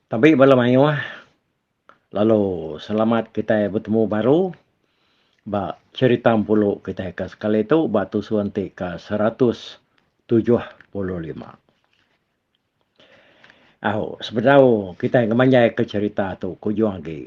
Tabi bala mayuh lalu selamat kitai betemu baru ba cherita empulu kitai ke sekali tu ba tusun ti ke seratus tujuh puluh lima. Au sebedau kitai ngemanjai ke cherita tu ke ujung agi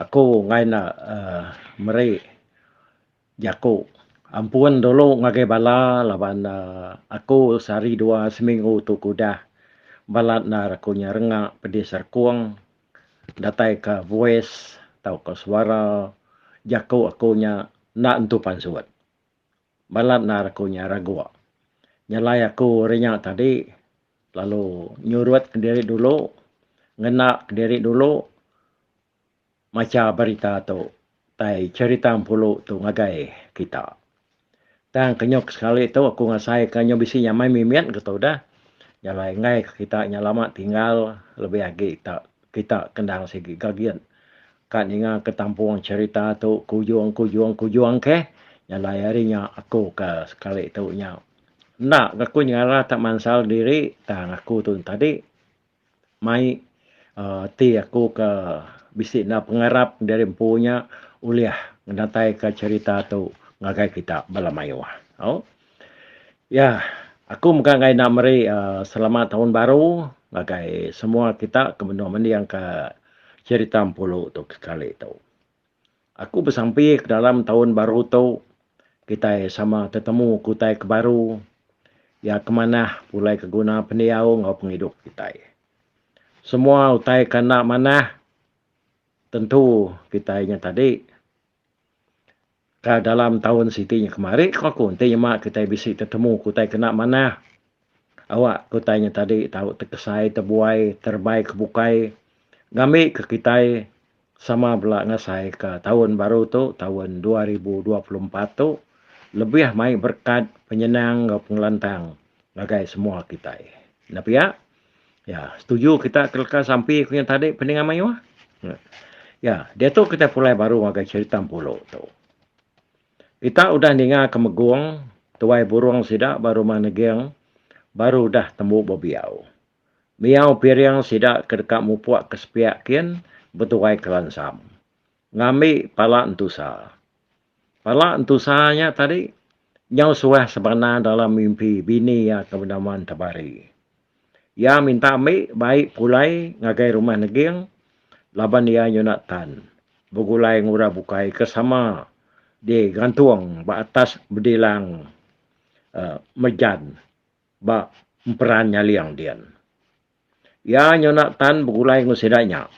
aku enggai enda meri Jaku. Ampun dulu ngagai bala laban aku sehari dua seminggu tu ke udah balat endar aku nya renga pedis serkung datai ka voice tauka suara jaku aku nya enda entu pansut. Balat endar aku nya raguk. Nyalai aku hari nya tadi lalu nyurut diri dulu ngena diri dulu. macha berita tu tai cherita empulu tu ngagai kita. Tang kenyuk sekali tu aku ngasai ka nyu bisi nyamai mimit ke tu dah. Jalai enggai ke kita nya lama tinggal lebih agi ta kita kendang sigi gagit ka ninga ke tampung cherita tu ke ujung ke ujung ke ujung keh jalai hari nya aku ka sekali tu nya. Enda ke aku nyengara ta mansal diri tang aku tu tadi. Mai ti aku ke bisi enda pengarap enda ari empu nya ulih ngedatai ka cerita tu ngagai kita bala mayuh. Au yah aku mega angai enda meri aaa selamat taun baru ngagai semua kita ke benung mending ka cerita empu lu tu kekali tu. Aku besampi ke dalam taun baru tu kitai sama tetemu ke utai ke baru iya ke manah pulai ke guna pendiau enggau pengidup kitai. Semua utai ke enda manah tentu kitai nya tadi ka dalam taun siti nya kemari ku aku enti nyema kitai bisi tetemu ke utai ke enda manah. Awak ke utai nya tadi tau tekesai tebuai terebai ke bukai ngambi ke kitai sama bela ngasai ka taun baru tu taun dua ribu dua puluh empat tu lebih mai berkat penyenang enggau pengelantang ngagai semua kitai. Enda pia ya setuju kita ke leka sampi ku nya tadi pendengar mayuh. Ya diatu kitai pulai baru ngagai cherita Empulu tu. Kita udah ninga ke megong tuai burong sida ba rumah neging baru udah tembu bebiau. Miau piring sida ke deka mupuk ke sepiak kin betuai ke lansam. Ngambi pala entusa. Pala entusa nya tadi nyau suah sebana dalam mimpi bini iya ke benama Entabari. Iya minta ambi bai pulai ngagai rumah neging laban iya nyuna tan begulai ngura bukai ke sama digantung ba atas bedilang mejan ba emperan nyaling din. Iya nyuna tan begulai enggau sida nya.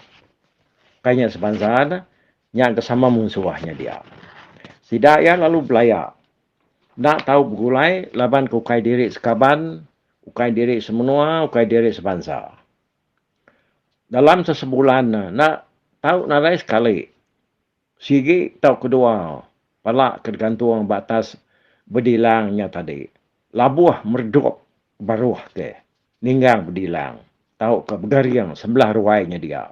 Kai nya sebansa ne Nya engka sama mung suah nya dia. Sida iya lalu belaya. Enda tau begulai laban ke ukai diri sekaban, ukai diri semenua, ukai diri sebansa. Dalam sesebulan ne enda tau nadai sekali sigi tau kedua pala ke digantung ba atas bedilang nya tadi labuh meredup baruh ke ninggang bedilang tauka begaring sebelah ruai nya dia.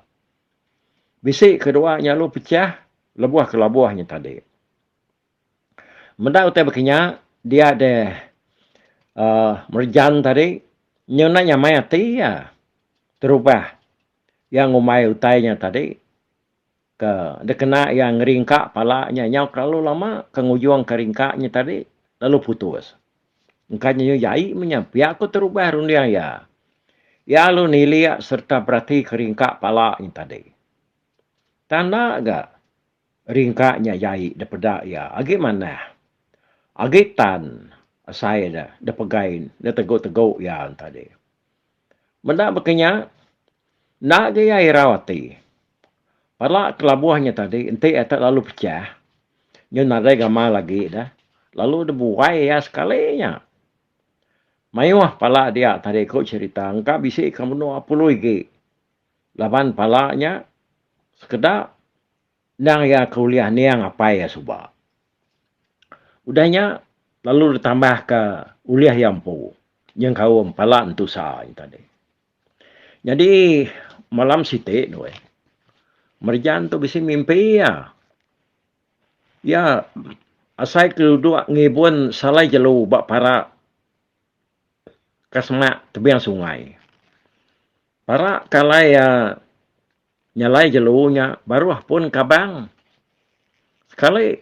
Bisi ke dua nya lalu pechah lebuh ke labuh nya tadi. Meda utai baka nya, dia deh uhh merejan tadi nyunak nyamai ati iya terubah iya ngumbai utai nya tadi ke dikena iya ngeringka pala nya nyau kelalu lama ke ngujungka ringka nya tadi lalu putus. Engkanya iya jai menya pia aku terubah runding iya. Iya lalu nilik sereta beratika ringka pala nya tadi. Tang enda ga ringka nya jai dipeda iya agi manah. Agi tan asai da dipegai nda tegu-tegu iya tadi. Meda baka nya, enda agi iya irau ati. Pala kelabuh nya tadi enti iya tak lalu pechah nyau nadai gamal agi deh lalu deh buai iya sekali nya. Mayuh pala dia tadi ku cherita engka bisi ka menua pului agi laban pala nya sekeda. Endang iya ke ulih aning apai iya suba. Udah nya, lalu ditambahka ulih iya empu nyengkaum pala Entu Sa nya tadi. Nyadi, malam siti due, Merjan tu bisi mimpi iya. Iya asai ke duduk ngibun salai jelu ba parak ke semak tebing sungai. Parak ke alai iya. Nyalai jelu nya baruh pun kabang. Sekali,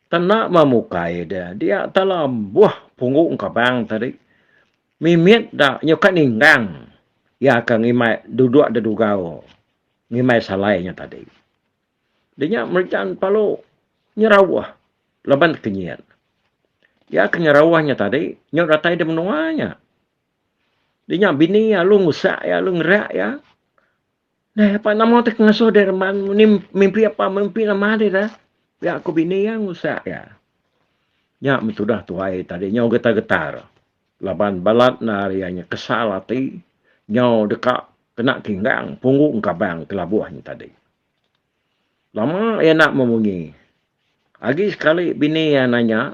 tanda memukai dia dia tala buh punggung kabang tadi. Mimit da nyuka ninggang iya ke ngimbai duduk da dugau ngimbai salai nya tadi. Di nya Merijan palu nyerauh laban tekenyit. Iya ke nyerauh nya tadi nyau datai di menua nya. Dia nya bini iya lalu ngusak iya lalu ngerak iya. Nah, apa nama tu ngasuh dia reman ni mimpi apa mimpi nama dia dah. Ya aku bini iya ngusak iya. Nya metudah tuai tadi nyau getar-getar. Laban balat nar iya nya kesal ati nyau deka kena kinggang punggung kabang kelabuh nya tadi. Lama iya enda memunyi. Agi sekali bini iya nanya,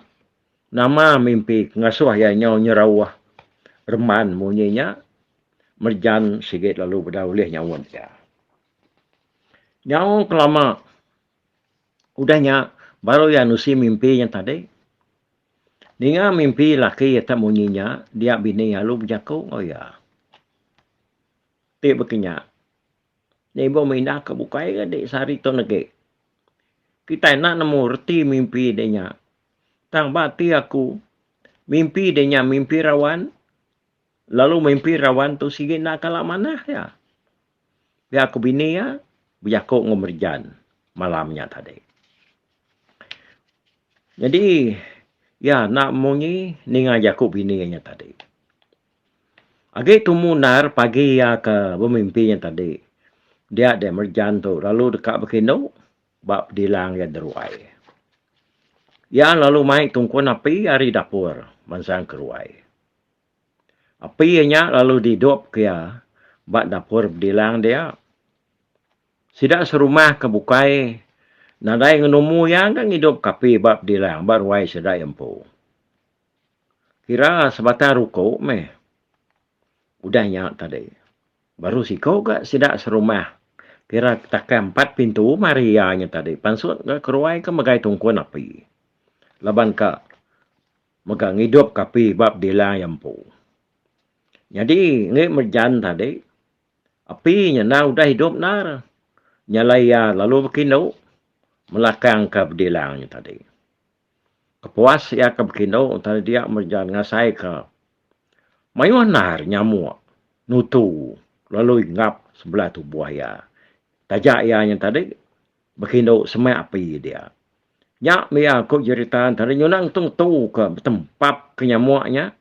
Nama mimpi ke ngasuh iya nyau nyerauh reman munyi nya? Merjan sigi lalu bedau ulih nyaut iya. Nyau ke lama udah nya baru iya nusi mimpi nya tadi. Ninga mimpi laki iya tu munyi nya, dia bini iya lalu bejaku enggau iya. Ti baka nya, nya ibuh meh indah ke bukai ke di sehari tu negi. Kitai enda nemu reti mimpi deh nya. Tang ba ati aku, mimpi deh nya mimpi rawan, lalu mimpi rawan tu sigi enda kala manah iya. Pia aku bini iya bejaku enggau Merijan malam nya tadi. Nyadi iya enda munyi ninga jaku bini iya nya tadi. Agi tumu ndar pagi iya ke bemimpi nya tadi, dia deh Merijan tu lalu deka bekindu ba pedilang iya deruai. Iya lalu mai tungkun api ari dapur mansang keruai. Api iya nya lalu didupka iya ba dapur pedilang dia. Sida serumah ke bukai nadai ngenumu iya enda ngidupka api ba pedilang ba ruai sida iya empu. Kira sebatang ruku meh. Udah nya tadi, baru siko ga sida serumah kira takai empat pintu mari iya nya tadi pansut ga keruai ke megai tungkun api laban ka mega ngidup ka api ba bedila iya empu. Nyadi enge merejan tadi api nya enda udah idup endar nyalai iya lalu bekindu melakang ka bedila nya tadi. Kepuas iya ke bekindu tang dia mereja ngasai ke mayuh nar nyamuk nutu lalu inggap sebelah tubuh iya. Taja iya nya tadi bekindu semak api dia. Nya mih iya ku jerita tadi nyunang tu ngetu ke betempap ke nyamuk nya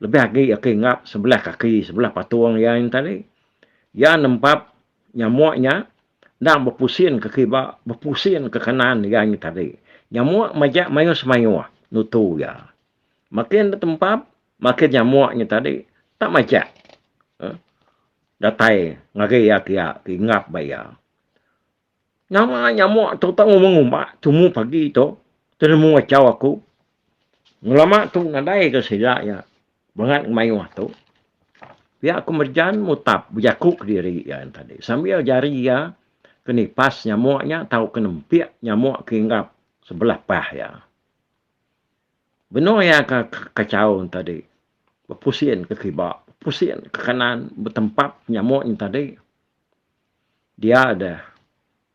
Lebih agi aki ngap sebelah kaki sebelah patung iya yen tadi. Iya nempap nyamuk nya endang bepusin ke kiba, bepusin ke kanan iya nya tadi. Nyamuk majak mayuh semayuh nutu iya. Makin betempap, makin nyamuk nya tadi tak majak uhh datai ngagai iya kiya ti ngap ba iya. Nama nyamuk tu tau ngumba-ngumba tumu pagi tu tenemu achau aku. Ngelama tu nadai ke sida iya bangat ke mayuh tu. Pia aku merejan mutap bejaku kediri iya yen tadi sambil jari iya ke nipas nyamuk nya tau ke nempik nyamuk ke hinggap sebelah pah iya. Benung iya ke kachau yen tadi bepusin ke kiba, bepusin ke kanan betempap nyamuk yen tadi. Dia deh.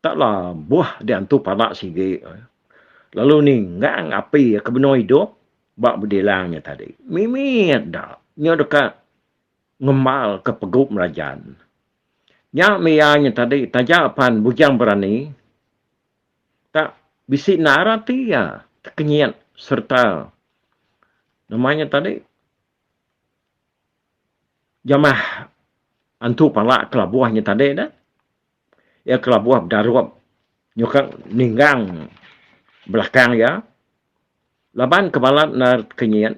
Tak la buh diantu pala sigi. Lalu ninggang api ke benung idup ba bedilang nya tadi. Mimit da nya deka ngembalka pegu merajan. Nya mia nya tadi taja pan Bujang Berani tak bisi narat iya tekenyit sereta nama nya tadi. Jamah antu pala kelabuh nya tadi dah. Iya kelabuh bedarup nyukang ninggang belakang iya. Laban ke bala enda ke nyiin,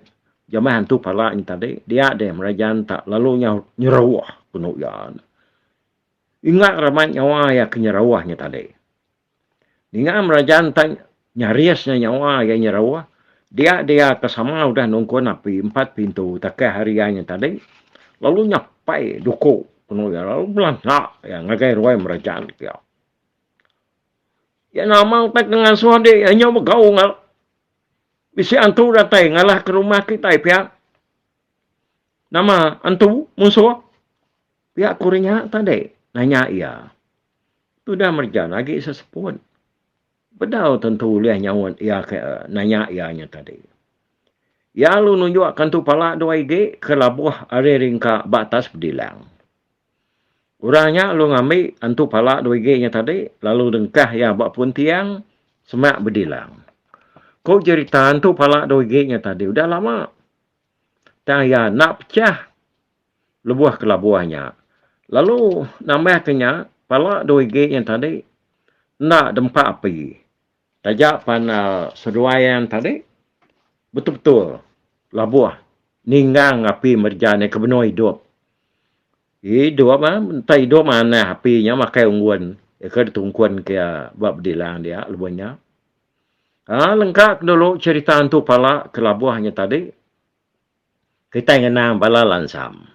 jamah antu pala nya tadi dia deh meri jaran enta lalu nya nyeruh penu iya. Ingat raban nyawa iya ke nyeruh nya tadi. Ninga Merajan tang nyaris nya nyawa iya nyeru, dia dia ke sama udah nungkun api empat pintu takah hari iya nya tadi lalu nyapai duku penu iya lalu belanda iya ngagai ruai Merajan pia. Iya nama utai ke ngasuh adi iya nya begau enggau bisi antu datai ngalah ke rumah kitai pia. Nama antu munsuh pia ku rinya tadi nanya iya. Tudah Merjan agi seseput. Bedau tentu ulih nyaut iya ke nanya iya nya tadi. Iya lalu nunjuk kantu pala dua igi ke labuh ari ringka ba atas bedilang. Orang nya lalu ngambi antu pala dua igi nya tadi lalu dengkah iya ba pun tiang semak bedilang. Ku jerita antu pala dua igi nya tadi udah lama tang iya enda pecah. lebuh kelabuh nya. Lalu nambah ke nya, pala dua gig nya tadi enda dempa api. Taja pan seduai yang tadi betul-betul labuh ninggang api mereja nya ke benung idup. Idup em, entah idup manah api nya makai unggun iya ke ditungkun ke iya ba bedilang dia lebuh nya. Aa lengka ke dulu cherita entu pala kelabuh nya tadi. Kitai ngena bala lansam.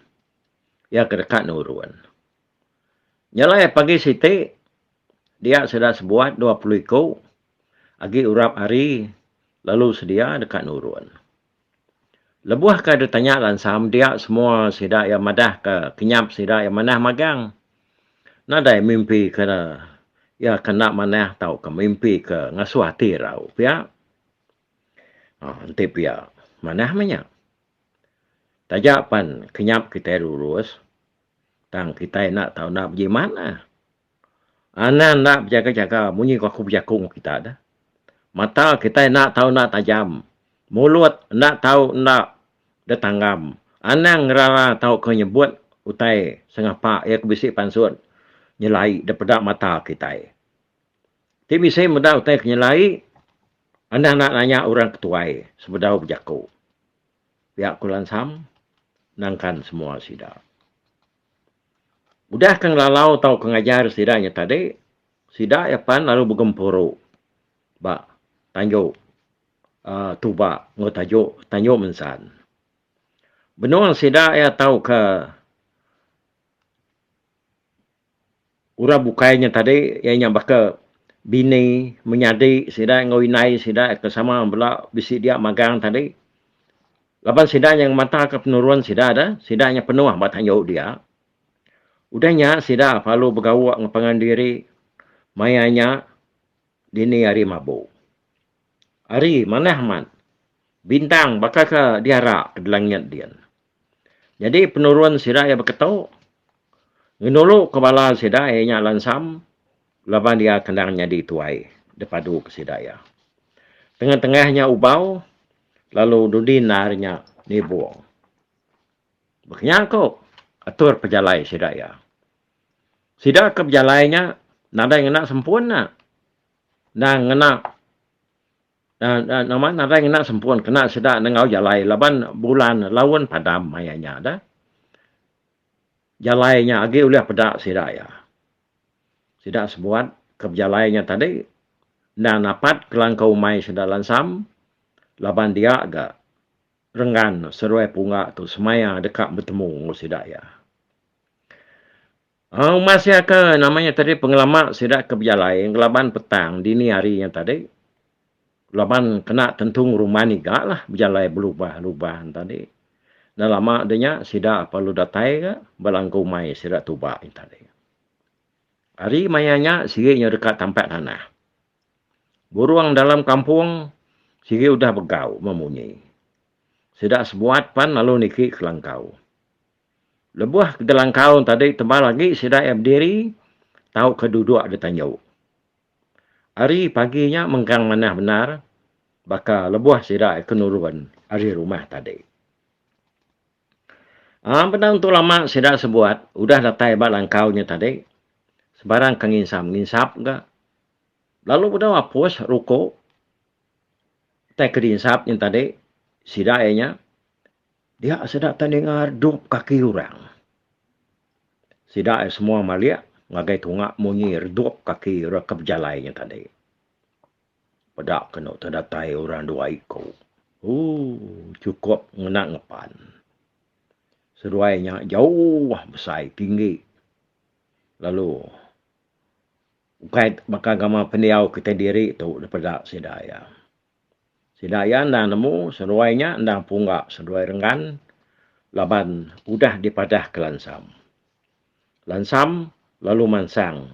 Iya ke deka nurun. Nyelai pagi siti, dia sida sebuat dua puluh iku agi urap hari lalu sedia deka nurun. Lebuh ke ditanya lansam dia semua sida iya madah ke kinyap sida iya manah magang. Nadai mimpi ke iya ke enda manah tauka mimpi ke ngasuh ati irau pia. Aaa enti pia manah meh nya. Taja pan kenyap kitai lulus tang kitai enda tau enda bejimat ah. Anang enda bejaga-jaga munyi ku aku bejaku ngen kita dah. Mata kitai enda tau enda tajam, mulut enda tau enda betanggam, anang ngerara tauka nyebut utai sengapa iya ke bisi pansut nyelai daripada mata kitai. Ti bisi meda utai ke nyelai anang enda nanya orang ke tuai sebedau bejaku. Pia ku Lansam nangkan semua sida. Udah ke ngelalau tauka ngajar sida nya tadi, sida iya pan lalu begempuru ba tanju uhh tuba enggau taju tanju mensan. Benung sida iya tauka. Orang bukai nya tadi iya nya baka bini menyadi sida enggau indai sida ke sama bela bisi dia magang tadi laban sida nya ngemataka penurun sida dah sida nya penuh ba tanjau dia. Udah nya sida perlu begawa ngepengan diri maya nya dini hari mabu. Ari manah amat bintang baka ke diara ke dilangit din. Nyadi penurun sida iya beketu ngenulu ke bala sida iya nya lansam laban iya ke endang nyadi tuai da padu ke sida iya. Tengah-tengah nya ubau lalu dudi enda ari nya nibung. Ba kinya ku atur pejalai sida iya. Sida ke bejalai nya nadai ngena sempun nya. Endang ngena uhh nama nadai ngena sempun kena sida nengau jalai laban bulan laun padam maya nya da. Jalai nya agi ulih peda sida iya. Sida sebuat ke bejalai nya tadi endang napat kelangkau umai sida lansam laban dia ga renggan seruai pungga tu semaya deka betemu enggau sida iya. Umas iya ke nama iya tadi pengelama sida ke bejalai ngelaban petang dini hari nya tadi laban kena tentu ngerumbai niga lah bejalai belubah lubah nya tadi dah lama dah nya sida pa lalu datai ga ba langkau umai sida tuba nya tadi. Hari maya nya sigi nya deka tampat tanah. Burung dalam kampung sigi udah begau memunyi. Sida sebuat pan lalu niki ke langkau. Lebuh Gelangkaun tadi tebal agi sida iya bediri tauka duduk ditanju. Ari pagi nya mengkang manah bendar baka lebuh sida iya ke nurun ari rumah tadi. Aaa bedau entu lama sida sebuat udah datai ba langkau nya tadi sebarang ke nginsap-nginsap ga lalu bedau apus ruku tai ke dinsap nya tadi sida iya nya Dia sida tang ningar dup kaki urang. Sida ai semua malik ngagai tunga munyi redup kaki ira ke bejalai nya tadi. Peda kenu te datai urang dua iku. Ooh chukup ngena ngepan. Seduai nya jauh besai tinggi lalu ukai baka gamal pendiau kitai diri tu dipeda sida iya. Sida iya endang nemu seruai nya endang pungga seduai renggan laban udah dipadahka Lansam. Lansam lalu mansang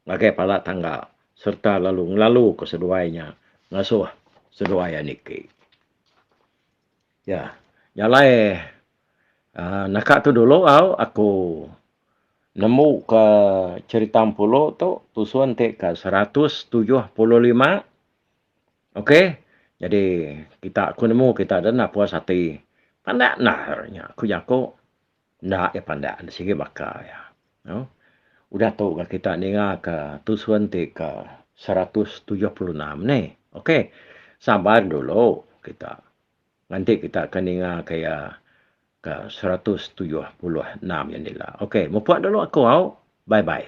ngagai pala tangga sereta lalu ngelaluka seduai nya ngasuh seduai Aniki. Ya, nya alai uhh naka tu dulu au aku nemuka cherita Empulu tu tusun ti ke seratus tujuh puluh lima. Ok jadi kita ku nemu kita dah napus ati pandak nah nya ku jaku enda iya pandak enda sigi baka iya noo udah tu ga kita ninga ka tusun ti ka seratus tujuh puluh enam neh ok sabar dulu kita nganti kita ka ninga ka iya ka seratus tujuh puluh enam nya dilo ok mupuk dulu aku au bye bye.